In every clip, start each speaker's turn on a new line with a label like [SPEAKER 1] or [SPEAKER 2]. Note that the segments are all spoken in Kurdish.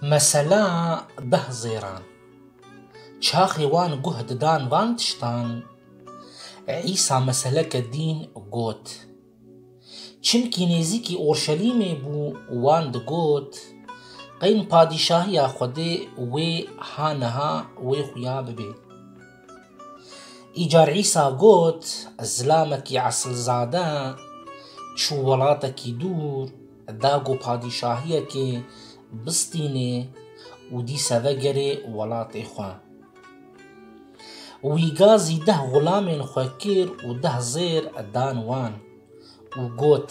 [SPEAKER 1] Mesela deh zêran. Çaxê wan guh didan van tiştan, Îsa meseleke dîn got. Çimkî nêzîkî Orşelîmê bû wan digot, Qeyn padîşahiya Xwedê wê ha niha wê xuya bibê. Îcar Îsa got, Ez zilamekî esilzade, çû welatekî dûr, da ku padîşahiyekê bistînê û dîse vegerê welatê xwe. Wî ga zî deh xulamên xwe kir û deh zêr dan wan û got,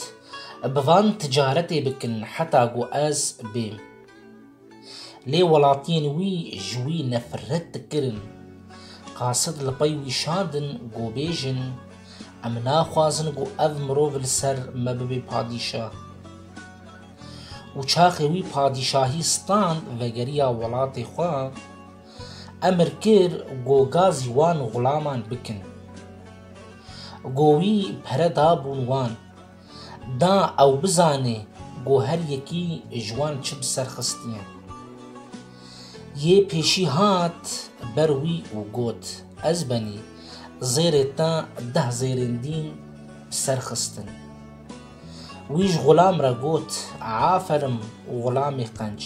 [SPEAKER 1] Bi van ticaretê bikin heta ku ez bêm. Lê welatiyên wî ji wî nefret dikirin. Qasid li pey wî şandin ku bêjin, Em naxwazin ku ev mirov li ser me bibe padîşah. Û çaxê wî padîşahî stand vegeriya welatê xwe, emir kir ku gazî wan xulaman bikin. Ku wî pere dabûn wan. Da ew bizanê ku her yekî ji wan çi bi ser xistiye. Yê pêşî hat ber wî û got, Ez benî zêrê te deh zêrên dîn bi ser xistin. Wî ji xulam re got, Aferim xulamê qenc,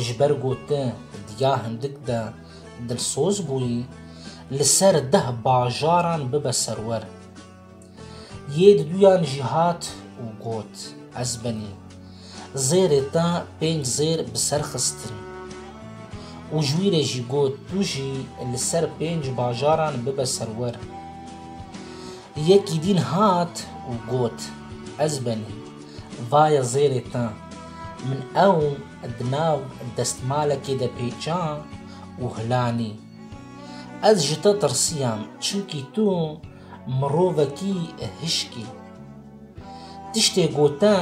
[SPEAKER 1] ji ber ku tu diya hindik de dilsoz bûyî, li ser deh bajaran bibe serwer. Yê di duyan jî hat û got, Ez benî. Zêrê te pênc zêr bi ser xistin. Û ji wî re jî got, Tu jî li ser pênc bajaran bibe serwer. Yekî dîn hat û got, Ez benî. Vaye zêrê te. Min ew di nav destmalekê de pêça û hilanî. Ez ji te tirsiyam, çimkî tu Mirovekî hişkî. Tiştê gote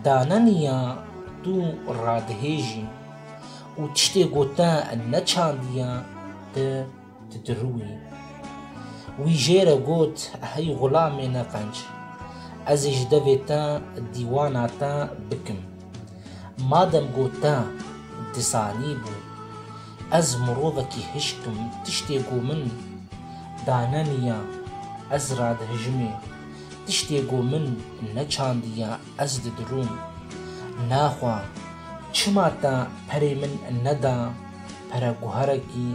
[SPEAKER 1] daneniya tu radihêjî û tiştê gote neçandiya ti didirûyî. Wî jê re got hey xulamê neqenc. Ez ê ji devê te dîwana te bikim. Madem got te disanîbû. Ez mirovekî hişk im, tiştê ku min daneniya ez radihijimê, tiştê ku min neçandiya ez didirûm. Naxwa, çima te perê min neda pereguherekî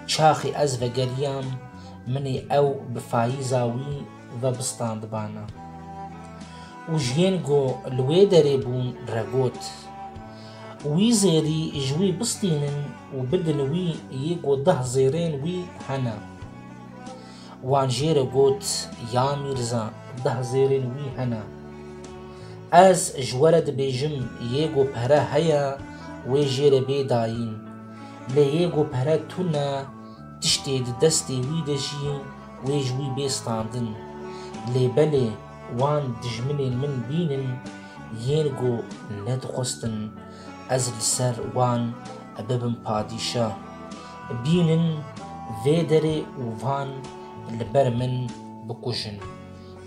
[SPEAKER 1] çaxê ez vegeriyam, min ê ew bi fayîza wî vebistandibana û ji yên ku li wê derê bûn re got, Wî zêrî ji wî bistînin û bidin wî yê ku deh zêrên wî hene. Wan jê re got, Ya mîrza, deh zêrên wî hene. Ez ji we re dibêjim yê ku pere heye wê jê re bê dayîn. Lê yê ku pere tune tiştê di destê wî de jî Wê ji wî bê standin. Lê belê wan dijminên min bînin yên ku nedixwestin ez li ser wan bibim padîşa. Bînin vê derê û van li ber min bikujin.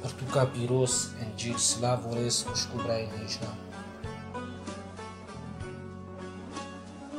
[SPEAKER 1] Pirtûka pîroz Encîl Silav û rêz xwişk û birayên hêjna.